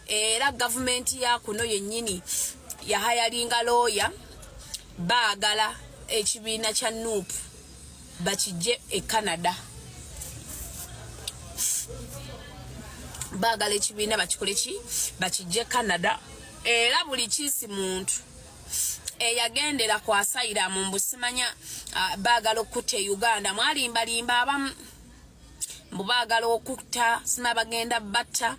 era gavumenti ya kuno yennyini yahayalinga looya baagala ekibiina kya nup bakijje e canada baagala ekibiina bakikole ki bakijje e canada era buli kiisi muntu eyagendera kwasayira mu mbusimanya baagala okutta e uganda mwalimbalimba abamu mbu baagala okutta sinabagenda batta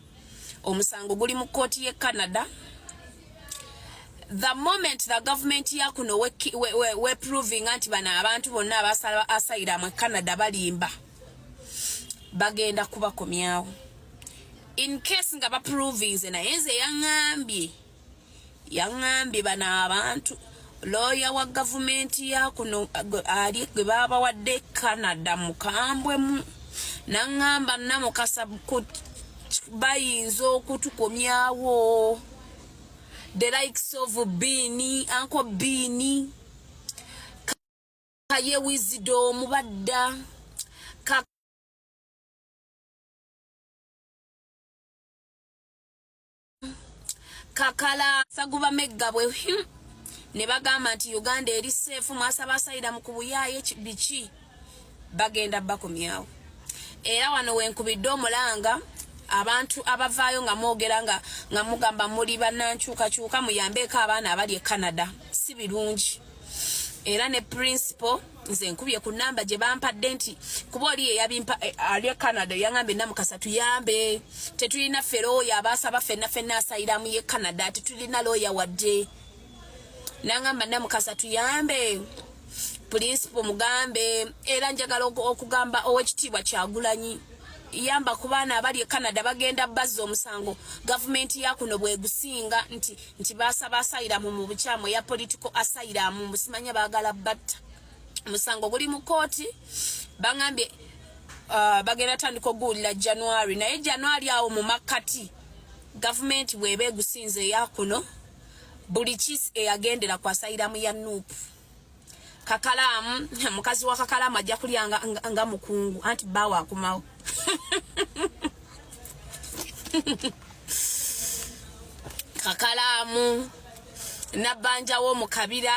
omusango guli mu kkooti ye canada the moment the government ya kuno weproving we, we, we nti bano abantu bonna abasala asayira mu canada balimba bagenda kubakomyawo in case nga baproving ze naye nze yaŋambye yaŋambye bano abantu looya wa gavumenti yakuno ali gwe baabawadde canada mukambwemu naŋŋamba namukasa bayinza okutukomyawo the likes of biini anko biini kaye wizido omubadda kakala saguba megga bwe hmm. ne bagamba nti uganda eri seefu mwasaba asayida mu kubuyaaye biki bagenda bakomyawo era wano wenkubidde omulanga abantu abavaayo nga mwogera nga nga mugamba muli banankyukakyuka muyambeeko abaana abali e canada si birungi era ne principal nze nkubye ku namba gye bampadde nti kuba oli yeyabimpa eh, ali e canada yangambye namukasa tuyambe tetulina ffe looya abaasaba fenna fenna asayiramu ye canada tetulina looya wadde nangamba namukasa tuyambe pulinsipo mugambe era njagala okugamba owekitiibwa kyagulanyi yamba ku baana abali e canada bagenda bazza omusango gavumenti yakuno bwegusinga nti nti basaba asayiramu mu bukyamu eya political asayiramu mbusimanya bagala batta musango guli mu kooti bangambye uh, bagenda tandika oguwulira january naye january awo mu makkati gavumenti bweba egusinze eyakuno buli kis eyagendera kwasayiramu ya nuupu kakalaamu mukazi wa kakalaamu ajja kulya nga, nga, nga mukungu anti bawo akumawo kakalaamu nabbanjawo mu kabira